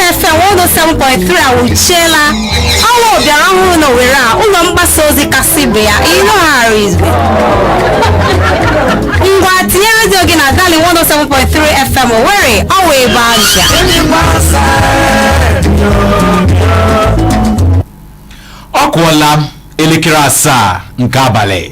107.3 awụchiela ọwa bịara ọhụrụ na Owerri a ụlọ mgbasa ozi kasị ibe ya ịnụgharị izugbe ngwa tinye redio gị na darling 107.3 fm Owerri ọwa ebe aja ọ kụọla elekere asaa nke abalị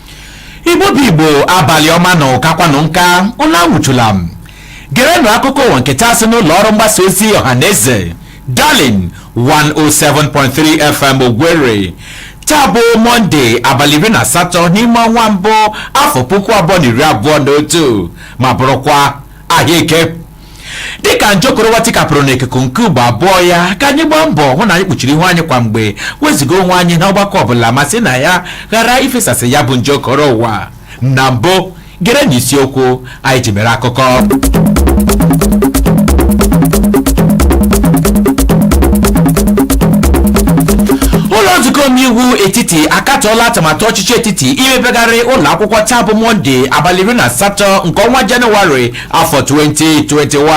igbo bụ igbo abalị ọma nụ kakwanụ nka ụlọ anwụchula m gerenụ akụkọ ụwa nke taa si n'ụlọ ọrụ mgbasa ozi ọha na eze darling 107.3 fm Owerri taa bụ mọnde abalị iri na asatọ n'ime ọnwa mbụ afọ puku abụọ na iri abụọ na otu ma bụrụkwa ahịa eke dịka nje okoro ụwa tikapụrụ n'ikuku nke ugbo abụọ ya ka anyị gbaa mbọ hụ na anyị kpuchiri ihu anyị kwa mgbe wezụga onwe anyị na ọgbakọ ọbụla ma sị na ya ghara ifesasị ya bụ nje okoro ụwa na mbụ gerenụ isiokwu anyị ji mere akụkọ ụlọ nzukọ omeiwu etiti akatọọla atụmatụ ọchịchị etiti imepegharị ụlọ akwụkwọ taa bụ mọnde abalị iri na asatọ nke ọnwa jenụwarị afọ 2021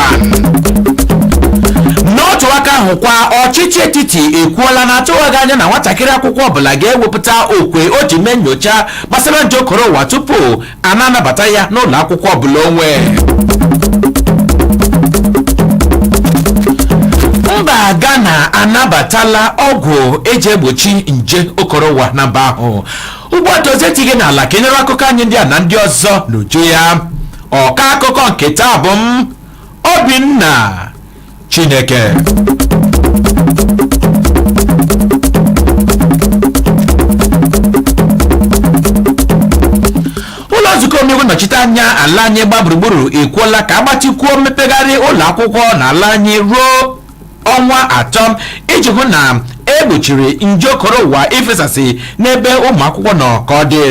n'otu aka ahụkwa ọchịchị etiti ekwuola na atụwaghị anya na nwatakịrị akwụkwọ ọbụla ga-ewepụta okwe o ji mee nyocha gbasara nje okoro ụwa tupu a na-anabata ya n'ụlọ akwụkwọ ọbụla onwe mba Ghana anabatala ọgwụ eji egbochi nje okoro ụwa na mba ahụ ugbu a dozie ntị gị n'ala ka ị nụrụ akụkọ anyị ndị a na ndị ọzọ n'uju ya ọka akụkọ nke taa bụ m obinna chineke ụlọ nzukọ omeiwu nnọchite anya ala anyị gba gburugburu ekwuola ka agbatịkwuo mmepegharị ụlọ akwụkwọ na ala anyị ruo ọnwa atọ iji hụ na egbochiri nje okoro ụwa ifesasị n'ebe ụmụ akwụkwọ nọ ka ọ dị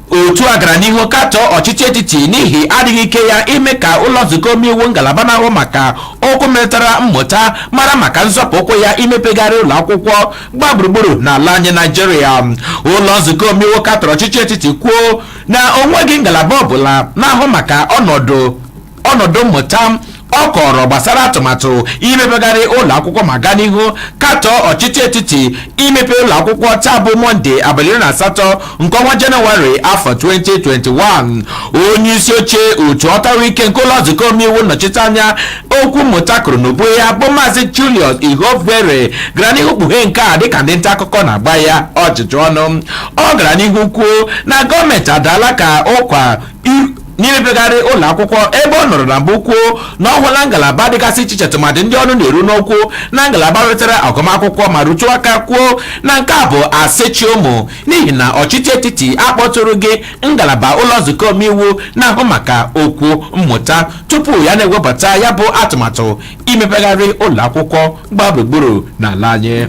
otu a gara n'ihu katọọ ọchịchị etiti n'ihi adịghị ike ya ime ka ụlọ nzukọ omeiwu ngalaba na-ahụ maka okwu metụtara mmụta mara maka nzọpụ ụkwụ ya imepegharị ụlọ akwụkwọ gba gburugburu n'ala anyị naijiria ụlọ nzukọ omeiwu katọrọ ọchịchị etiti kwuo na onweghị ngalaba ọbụla na-ahụ maka ọnọdụ ọnọdụ mmụta ọ kọọrọ gbasara atụmatụ imepegharị ụlọ akwụkwọ ma gaa n'ihu katọọ ọchịchị etiti imepe ụlọ akwụkwọ taa bụ mọnde abalị iri na asatọ nke ọnwa jenụwarị afọ 2021 onye isi oche otu ọtarụ ike nke ụlọ nzukọ omeiwu nnọchiteanya okwu mmụta kụrụ n'ubu ya bụ maazị julius ihonvbere gara n'ihu kpughee nke a dịka ndị nta akụkọ na-agba ya ajụjụ ọnụ ọ gara n'ihu kwuo na gọọmenti adaala ka ụkwa n'imepegharị ụlọ akwụkwọ ebe ọ nọrọ na mbụ kwuo na ọ hụla ngalaba dịgasị iche iche tụmadị ndị ọnụ na-eru n'okwu na ngalaba wetara agụmakwụkwọ ma rụtụ aka kwuo na nke a bụ asị chị ọmụ n'ihi na ọchịchị etiti akpọtụrụghị ngalaba ụlọ nzukọ omeiwu na-ahụ maka okwu mmụta tupu ya na-ewepụta ya bụ atụmatụ imepegharị ụlọ akwụkwọ gbaa gburugburu n'ala anyị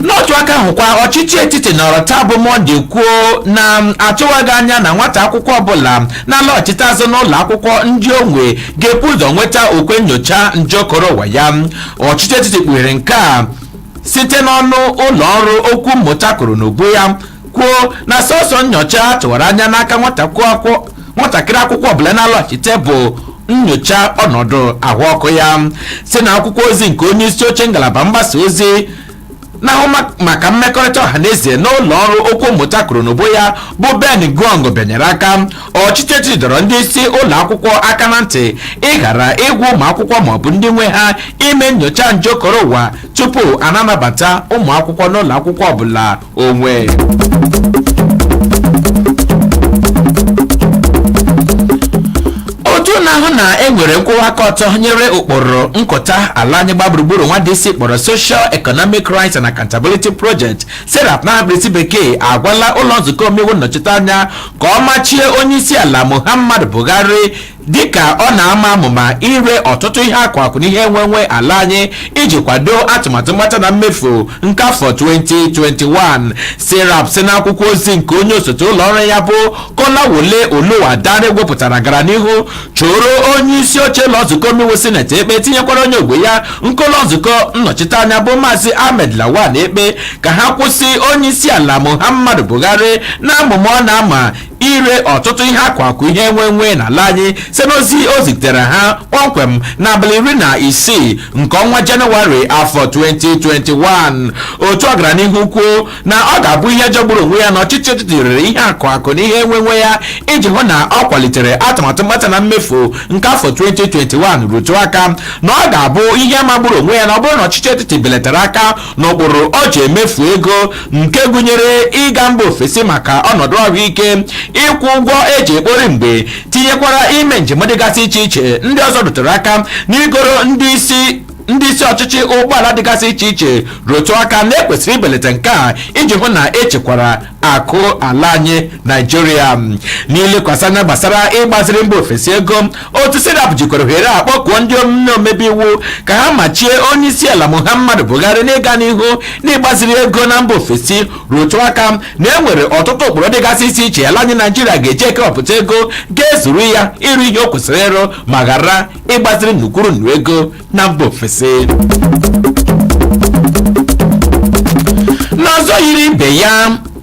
n'otu aka ahụkwa ọchịchị etiti nọrọ taa bụ mọnde kwuo na atụwaghị anya na nwata akwụkwọ ọbụla na-alọghachite azụ n'ụlọ akwụkwọ ndị onwe ga-ebu ụzọ nweta okwe nyocha nje okoro ụwa ya ọchịchị etiti kpughere nke a site n'ọnụ ụlọ ọrụ okwu mmụta koro n'ubu ya kwuo na sọsọ nyocha a tụwara anya n'aka nwata akwụkwọ nwatakịrị akwụkwọ ọbụla na-alọghachite bụ nyocha ọnọdụ ahụ ọkụ ya si na akwụkwọ ozi nke onye isi oche ngalaba mgbasa ozi na-ahụ ma- maka mmekọrịta ọha na eze n'ụlọ ọrụ okwu mmụta koro n'ubu ya bụ ben gong bịanyere aka ọchịchị etiti dọrọ ndị isi ụlọ akwụkwọ aka na ntị ịghara ịgwa ụmụ akwụkwọ maọbụ ndị nwe ha ime nyocha nje okoro ụwa tupu a na-anabata ụmụ akwụkwọ n'ụlọ akwụkwọ ọbụla onwe otu na-ahụ na e nwere nkwụwa aka ọtọ nyere ụkpụrụ nkụta ala anyị gbaa gburugburu nwa DC kpọrọ Social Economic Rights and Accountability Project serap n'aha mkpirisi bekee agwala ụlọ nzukọ omeiwu nnọchiteanya ka ọ machie onye isi ala Muhammadu Buhari dịka ọ na-ama amụma ire ọtụtụ ihe akụ akụ na ihe enwe enwe ala anyị iji kwado atụmatụ mkpata na mmefu nke afọ 2021 serap si n'akwụkwọ ozi nke onye osote ụlọ ọrụ ya bụ kolawole oluwadare wepụtara gara n'ihu choro onye isi oche ụlọ nzukọ omeiwu sineti ekpe tinyekwara onye ogbo ya nke ụlọ nzukọ nnọchiteanya bụ maazị ahmed lawan ekpe ka ha kwụsị onye isi ala muhammadu buhari n'amụma ọ na-ama ire ọtụtụ ihe akụ akụ ihe enwe enwe n'ala anyị site n'ozi o zitere ha kpọmkwem n'abalị iri na isii nke ọnwa jenụwarị afọ 2021 otu ahụ gara n'ihu kwuo na ọ ga-abụ ihe jọgburu onwe ya na ọchịchị etiti rere ihe akụ akụ na ihe enwe enwe ya iji hụ na ọ kwalitere atụmatụ mkpata na mmefu nke afọ 2021 rụtụ aka na ọ ga-abụ ihe magburu onwe ya na ọ bụrụ na ọchịchị etiti belatara aka n'ụkpụrụ o ji emefu ego nke gụnyere ịga mba ofesi maka ọnọdụ ahụike ịkwụ ụgwọ e ji ekpori mgbe tinyekwara ime njem dịgasị iche iche ndị ọzọ rụtụrụ aka n'igoro ndị isi ndị isi ọchịchị ụgbọala dịgasị iche iche rụtụ aka na e kwesịrị ibelata nke a iji hụ na e chekwara akụ ala anyị naijiria n'ilekwasị anya gbasara ịgbaziri mba ofesi ego otu serap jikwara ohere a kpọkuo ndị omebe iwu ka ha machie onye isi ala muhammadu buhari n'ịga n'ihu n'ịgbaziri ego na mba ofesi rụtụ aka na e nwere ọtụtụ ụkpụrụ dịgasị iche iche ala anyị naijiria ga-eji ekewapụta ego ga-ezuru ya ịrụ ihe o kwesịrị ịrụ ma ghara ịgbaziri nnu kwuru nnu ego na mba ofesi n'ọzọ yiri ibe ya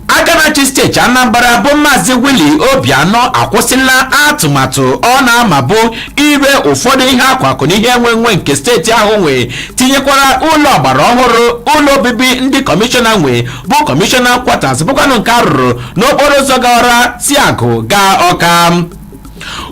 aka na-achị steeti anambra bụ maazị willie obianọ akwụsịla atụmatụ ọ na-amabụ ire ụfọdụ ihe akụ akụ na ihe enwenwe nke steeti ahụ nwe tinyekwara ụlọ ọgbara ọhụrụ ụlọ obibi ndị kọmishọna nwe bụ kọmishọna kwatas bụkwanụ nke a rụrụ n'okporo ụzọ gawara isiagụ gaa ọka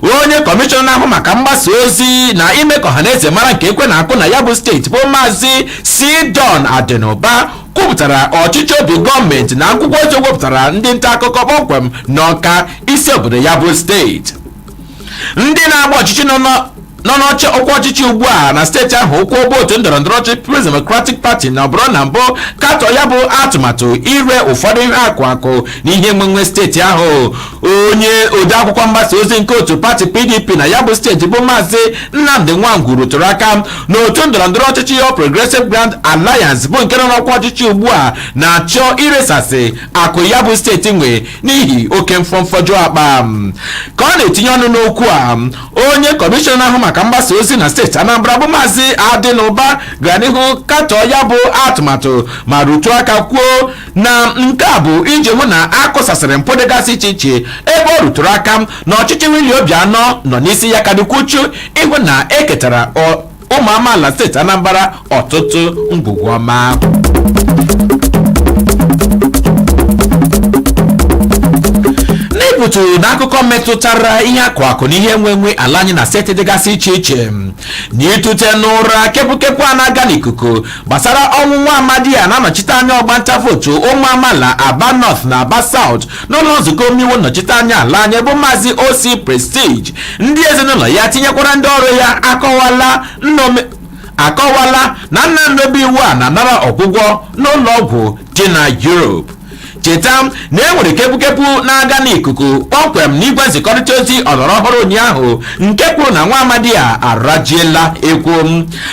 onye kọmishọna na-ahụ maka mgbasa ozi na ime ka ọhaneze mara nke ekwe na-akụ na ya bụ steeti bụ maazị c don adịnụba kwupụtara ọchịchọ obi gọọmenti na akwụkwọ ozi o wepụtara ndị nta akụkọ kpọmkwem n'ọka isi obodo ya bụ steeti ndị na-agba ọchịchị nọ n'ọ- nọ n'ọchị ọkwa ọchịchị ugbu a na steeti ahụ ụkwụ bụ otu ndọrọ ndọrọ ọchịchị People's Democratic Party nọburu na mbụ katọọ ya bụ atụmatụ ire ụfọdụ ihe akụ akụ na ihe enwenwe steeti ahụ onye odeakwụkwọ mgbasa ozi nke otu pati PDP na ya bụ steeti bụ maazị Nnamdi Nwangwu rụtụrụ aka na otu ndọrọ ndọrọ ọchịchị All Progressive Grand Alliance bụ nke nọ n'ọkwa ọchịchị ugbu a na-achọ iresasị akụ ya bụ steeti nwe n'ihi oke mfọ mfọju akpa ka ọ na-etinye ọnụ n'okwu a onye kọmishọna ahụ maka mgbasa ozi na steeti anambra bụ maazị adịnụba gara n'ihu katọọ ya bụ atụmatụ ma rụtụ aka kwuo na nke a bụ iji hụ na a kụsasịrị mpụ dịgasị iche iche ebe ọ rụtụrụ aka na ọchịchị willie obianọ nọ n'isi ya ka dịkwu uchu ịhụ na e ketara ụmụ amaala steeti anambra ọtụtụ ngwugwu ọma n'ịpụtụ n'akụkọ metụtara ihe akụ akụ na ihe enwenwe ala anyị na steeti dịgasị iche iche na ịtụte n'ụra kepukepu a na-aga n'ikuku gbasara ọnwụ nwa amadi a na-anọchite anya ọgbanta vootu ụmụ amaala aba north na aba south n'ụlọ nzukọ omeiwu nnọchite anya ala anyị bụ maazị ossy prestige ndị ezinụlọ ya tinyekwara ndị ọrụ ya akọwala nnome akọwala na nna omebe iwu a na-anara ọgwụgwọ n'ụlọ ọgwụ dị na Europe cheta na e nwere kepukepu na-aga n'ikuku kpọmkwem n'igwe nzikọrịta ozi ọlọrọ ọhụrụ ụnyaahụ nke kwuru na nwa amadi a arajiela ekwu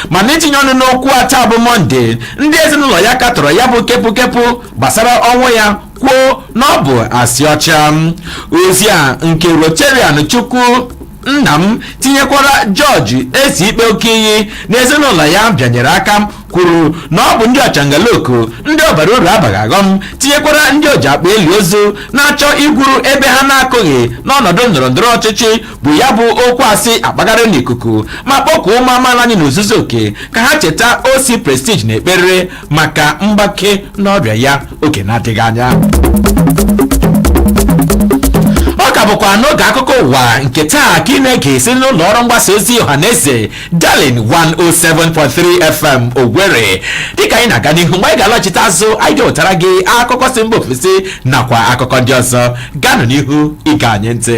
mana itinye ọnụ n'okwu a taa bụ mọnde ndị ezinụlọ ya katọrọ ya bụ kepukepu gbasara ọnwụ ya kwuo na ọ bụ asị ọcha ozi a nke rotarian chukwu nna m tinyekwara jọji ezikpe okiyi n'ezinụlọ ya bịanyere aka kwuru na ọ bụ ndị ọchangaloku ndị ọ bara uru abaghị aghọm tinyekwara ndị oji akpa eli ozu na-achọ igwuru ebe ha na-akụghị n'ọnọdụ ndọrọ ndọrọ ọchịchị bu ya bụ okwu asị akpagharị n'ikuku ma kpọkuo ụmụ amaala anyị n'ozuzu oke ka ha cheta osi prestige n'ekpere maka mgbake n'ọrịa ya oge na-adịghị anya ọ ka bụkwa n'oge akụkọ ụwa nke taa ka ị na-ege esi n'ụlọ ọrụ mgbasa ozi ọha na eze darling 107.3 fm owerri dịka anyị na-aga n'ihu mgbe anyị ga-alọchite azụ anyị ga-ewetara gị akụkọ si mba ofesi nakwa akụkọ ndị ọzọ ganụ n'ihu ịṅa anyị ntị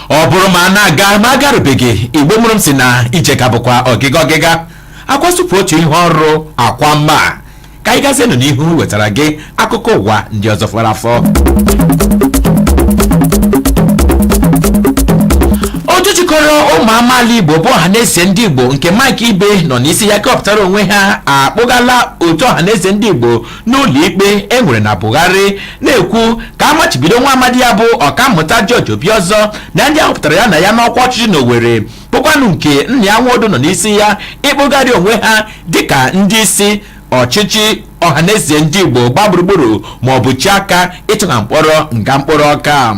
ọ bụrụ ma a na-aga ma agarubeghị igbo mụrụ m sị na ije ka bụkwa ọgịga ọgịga akwasụpụ otu ihe ọrụ akwa mma ka anyị gazienụ n'ihu wetara gị akụkọ ụwa ndị ọzọ fọrọ afọ otu jikọrọ ụmụ amaala igbo bụ ọhaneze ndị igbo nke mike ibe nọ n'isi ya kewapụtara onwe ha akpụgala otu ọhaneze ndị igbo n'ụlọikpe e nwere na Bwari na-ekwu ka a machibido nwa amadi a bụ ọkammụta George Obiọzọ na ndị a họpụtara ya na ya n'ọkwa ọchịchị n'Owerri bụkwanụ nke Nnia Nwodo nọ n'isi ya ịkpụgharị onwe ha dịka ndị isi ọchịchị ọhaneze ndị igbo gba gburugburu ma ọ bụ chi aka ịtụ ha mkpọrọ nga mkpọrọ ọka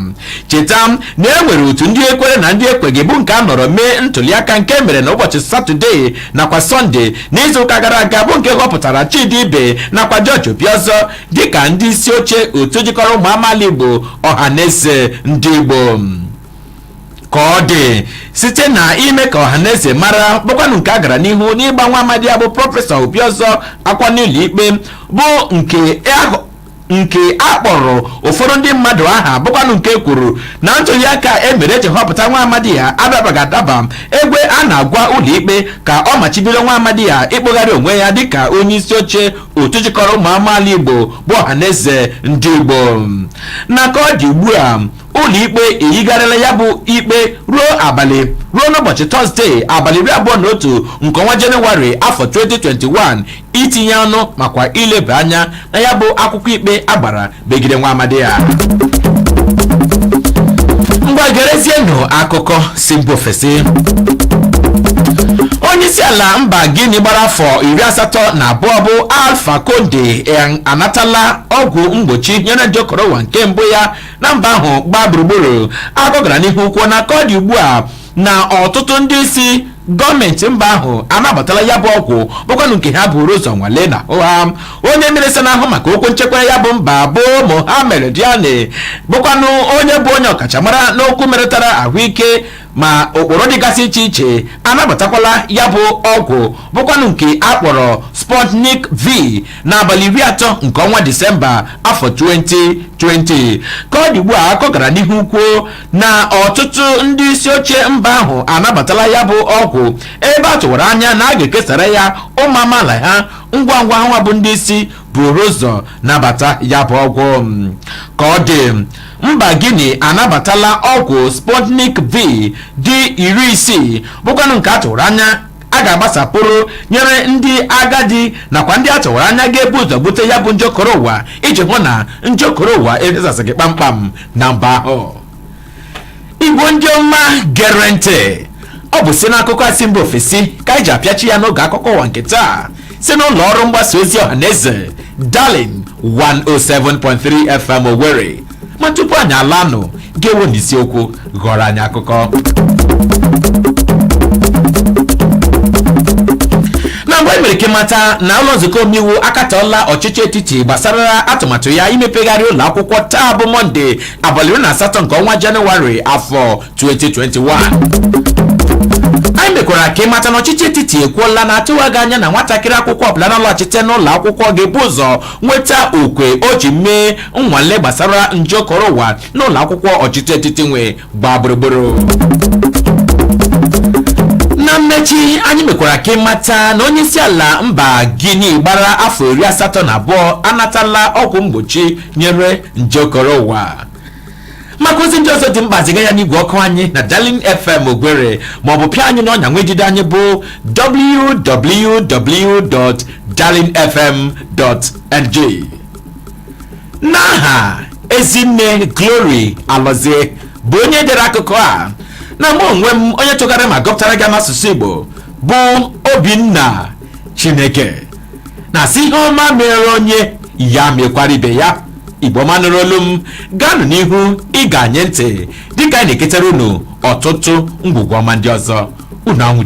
cheta na e nwere otu ndị ekwere na ndị ekweghị bụ nke a nọrọ mee ntụliaka nke mere na ụbọchị satọde nakwa sọnde n'izuụka gara aga bụ nke họpụtara Chidi Ibe nakwa George Obiọzọ dịka ndị isi oche otu jikọrọ ụmụ amaala Igbo ọhaneze ndị Igbo ka ọ dị site na ime ka ọhaneze mara bụkwanụ nke a gara n'ihu n'ịgba nwa amadi a bụ prọfesọ Obiọzọ akwụkwọ n'ụlọ ikpe bụ nke nke a kpọrọ ụfọdụ ndị mmadụ aha bụkwanụ nke kwuru na ntụliaka e mere e ji họpụta nwa amadi a adabaghị adaba ebe a na-agwa ụlọikpe ka ọ machibido nwa amadi a ịkpụgharị onwe ya dịka onye isi oche otu jikọrọ ụmụ amaala igbo bụ ọhaneze ndị igbo na ka ọ dị ugbu a ụlọikpe eyigharịla ya bụ ikpe ruo abalị ruo n'ụbọchị tọzdee abalị iri abụọ na otu nke ọnwa jenụwarị afọ 2021 itinye ọnụ makwa ileba anya na ya bụ akwụkwọ ikpe a gbara megide nwa amadi a ngwa gerezienụ akụkọ si mba ofesi onyeisiala mba gini gbara afọ iri asatọ na abụọ bụ alfa konde anatala ọgwụ mgbochi nyere nje korona nke mbụ ya na mba ahụ gbaa gburugburu akụkọ gara n'ihu kwuo na ka ọ dị ugbu a na ọtụtụ ndị isi gọọmenti mba ahụ anabatala ya bụ ọgwụ bụkwanụ nke ha buru ụzọ nwale n'ahụ ha onye minista na-ahụ maka okwu nchekwa ya bụ mba bụ Mohammed Diane bụkwanụ onye bụ onye ọkachamara n'okwu metụtara ahụike ma ụkpụrụ dịgasị iche iche anabatakwala ya bụ ọgwụ bụkwanụ nke a kpọrọ Sputnik V n'abalị iri atọ nke ọnwa Disemba afọ 2020 ka ọ dị ugbu a akụkọ gara n'ihu kwuo na ọtụtụ ndị isi oche mba ahụ anabatala ya bụ ọgwụ ebe a tụwara anya na a ga-ekesara ya ụmụ amaala ha ngwa ngwa ha bụ ndị isi buru ụzọ nabata ya bụ ọgwụ ka ọ dị mba guinea anabatala ọgwụ sputnik v dị iri isii bụkwanụ nke a tụwara anya a ga-agbasapụrụ nyere ndị agadi nakwa ndị a tụwara anya ga-ebu ụzọ bute ya bụ nje okoro ụwa iji hụ na nje okoro ụwa ezasịghị kpamkpam na mba ahụ igbo ndị ọma gere ntị ọ bụzi n'akụkọ a si mba ofesi ka anyị ji apịachi ya n'oge akụkọ ụwa nke taa si n'ụlọ ọrụ mgbasa ozi ọha na eze darling 107.3 fm owerri ma tupu anyị alanụ ga-enwe n'isiokwu ghọrọ anyị akụkọ na mbụ e mere ka ịmata na ụlọ nzukọ omeiwu akatọọla ọchịchị etiti gbasara atụmatụ ya imepegharị ụlọ akwụkwọ taa bụ mọnde abalị iri na asatọ nke ọnwa jenụwarị afọ 2021 anyị mekwara ka ịmata na ọchịchị etiti ekwuola na atụwaghị anya na nwatakịrị akwụkwọ ọbụla na-alọghachite n'ụlọ akwụkwọ ga-ebu ụzọ nweta okwe o ji mee nnwale gbasara nje okoro ụwa n'ụlọ akwụkwọ ọchịchị etiti nwe gbaa gburugburu na mmechi anyị mekwara ka ịmata na onye isi ala mba Guinea gbara afọ iri asatọ na abụọ anatala ọgwụ mgbochi nyere nje okoro ụwa maka ozi ndị ọzọ dị mkpa ziga ya n'igwe ọkụ anyị na darling fm owerri maọbụ pịa anyị n'ọnya nwa udide anyị bụ www.darlingfm.ng n'aha ezinne glory alozie bụ onye dere akụkọ a na mụ onwe m onye tụghara ma gụpụtara gị n'asụsụ igbo bụ obinna chineke na-asị ihe ọma mere onye ya mekwara ibe ya igbo ọma nụrụ olu m gaanụ n'ihu ige anyị ntị dịka anyị na-eketara unu ọtụtụ ngwugwu ọma ndị ọzọ unu anwụchu